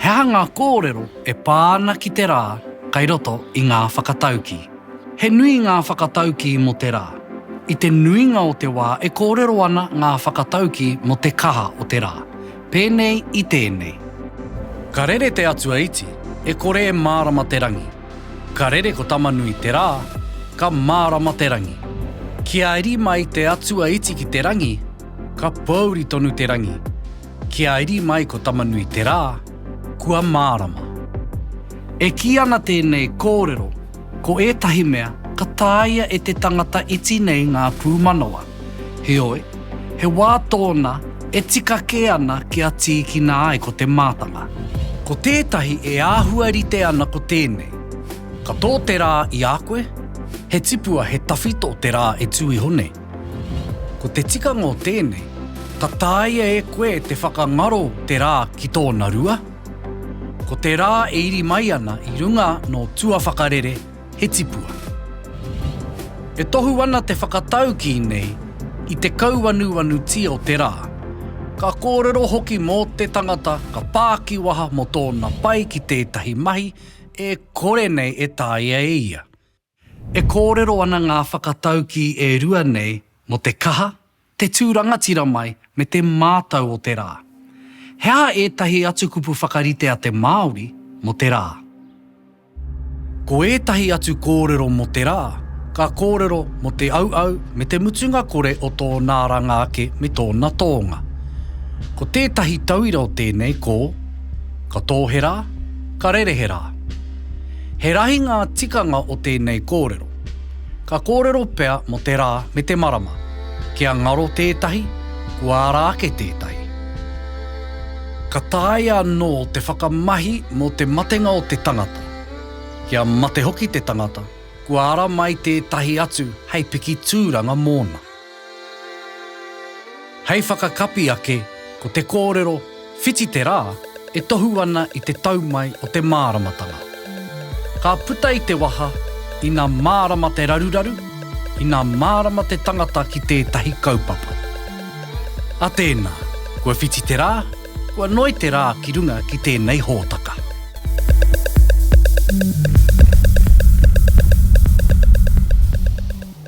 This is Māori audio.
He aha ngā kōrero e pā ana ki te rā kai roto i ngā whakataukī? He nui ngā whakataukī mō te rā. I te nuinga o te wā e kōrero ana ngā whakataukī mō te kaha o te rā. Pēnei i tēnei. Ka rere te Atua iti, e kore e mārama te rangi. Ka rere ko Tamanui te rā, ka mārama te rangi. Kia iri mai te Atua iti ki te rangi, ka pōuri tonu te rangi. Kia iri mai ko Tamanui te rā, kua mārama. E kī ana tēnei kōrero Ko ētahi mea, ka tāia e te tangata iti nei ngā pūmanawa. Heoi, he wā tōna e tika kē ana kia tīkina ai ko te mātanga. Ko tētahi e āhua rite ana ko tēnei, Ka tō te rā i a koe, he tipua he tawhito te rā e tū iho nei. Ko te tikanga o tēnei, ka tāia e koe te whakangaro te rā ki tōna rua. Ko te rā e iri mai ana i runga nō tua whakarere he tipua. E tohu ana te whakataukī nei i te kauanuanutia o te rā, ka kōrero hoki mō te tangata ka pā ki waha mō tōna pai ki tētahi mahi e kore nei e taea e ia. E kōrero ana ngā whakataukī e rua nei mō te kaha, te tū rangatira mai, me te mātau o te rā. He aha ētahi atu kupu whakarite a te Māori mō te rā? Ko ētahi atu kōrero mō te rā, ka kōrero mō te auau me te mutunga kore o tōna aranga ake me tōna tōnga. Ko tētahi tauira o tēnei ko, Ka tō he rā, ka rere he rā. He rahi ngā tikanga o tēnei kōrero. Ka kōrero pea mō te rā me te marama, kia ngaro tētahi, kua ara ake tētahi. Ka taea anō te whakamahi mō te matenga o te tangata, kia mate hoki te tangata, kua ara mai tētahi atu hei piki tūranga mōna. Hei whakakapi ake, ko te kōrero Whiti te rā e tohu ana i te tau mai o te māramatanga. Ka puta i te waha, ina mārama te raruraru, ina mārama te tangata ki tētahi kaupapa. A tēnā, kua whiti te rā, kua noi te rā ki runga ki tēnei hōtaka.